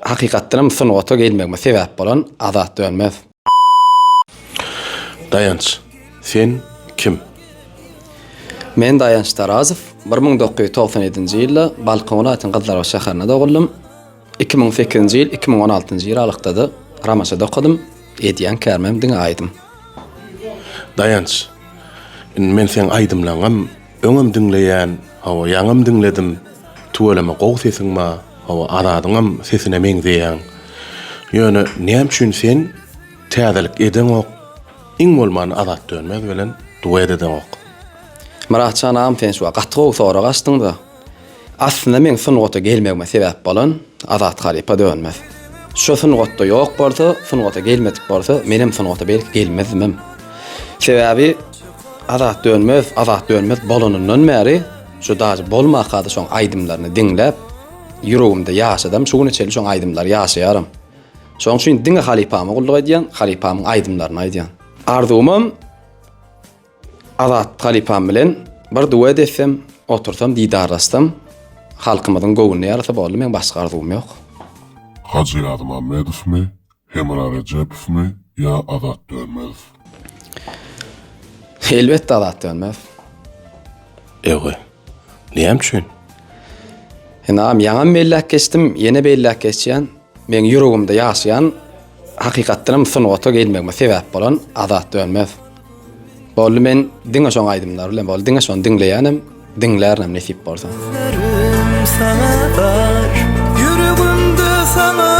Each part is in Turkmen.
Hakykatdanam sungata gelmegime sebäp bolan Azat Dönmez. Daýanç, sen kim? Men Daýanç Tarazow. Bir müň dokuz ýüz togsan ýedinji ýylda Balkan welaýatynyň Gyzlarbaş şäherinde doguldym. Iki müň sekizinji ýyl, iki müň on altynjy ýyl aralykda-da Ramaçada okadym. Edýän kärimem diňe aýdym. Daýanç, indi men seň aýdymlaryňam. Öňem diňleýän hawa ýaňam diňledim tüweleme gowy sesiň ba hawa Azadyňam sesine meňzeýäň ýöne näme üçin sen täzelik edeňok iň bolmanda Azat Dönmez bilen duet edeňok. Myratjan agam sen şu wagt gaty gowy sorag açdyňda. Aslynda meň sungata gelmegime sebäp bolan Azat halypa dönmez. Şo sungatda ýok bolsa, sungata gelmedik bolsa, menem sungata belki gelmezdimem. Sebäbi Azat dönmez, Azat dönmez bolanyndan bäri, şo daže bolmakada şoň aýdymlaryny diňläp, ýüregimde ýaşadam, şu güne çenli şoň aýdymlary ýaşaýaram. Şoň üçin diňe halypama gulluk edýän, halypamyň aýdymlaryny aýdýan. Arzuwymam. Azat halypam bilen bir duet etsem, otursam, didarlaşsam, halkymyzyň göwnüne ýarasa boldy, meň başga arzuwym ýok. Hajy Ýazmamedowmy, Hemra Rejepowmy ýa Azat Dönmezow? Elbetde Azat Dönmezow. Ewe. Näme üçin? Ynam, ýaňam belläp geçdim, ýene belläp geçýän. Meň ýüregimde ýaşaýan, hakykatdan hem sungata gelmegime sebäp bolan Azat Dönmez. Boldy men diňe şoň aýdymlary bilen boldy diňe şony diňleýänem, diňlärinem nesip bolsa. Sözlerim saňa bar, ýüregimde saňa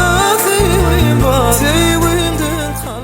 söýgim bar, söýgimden kalbym.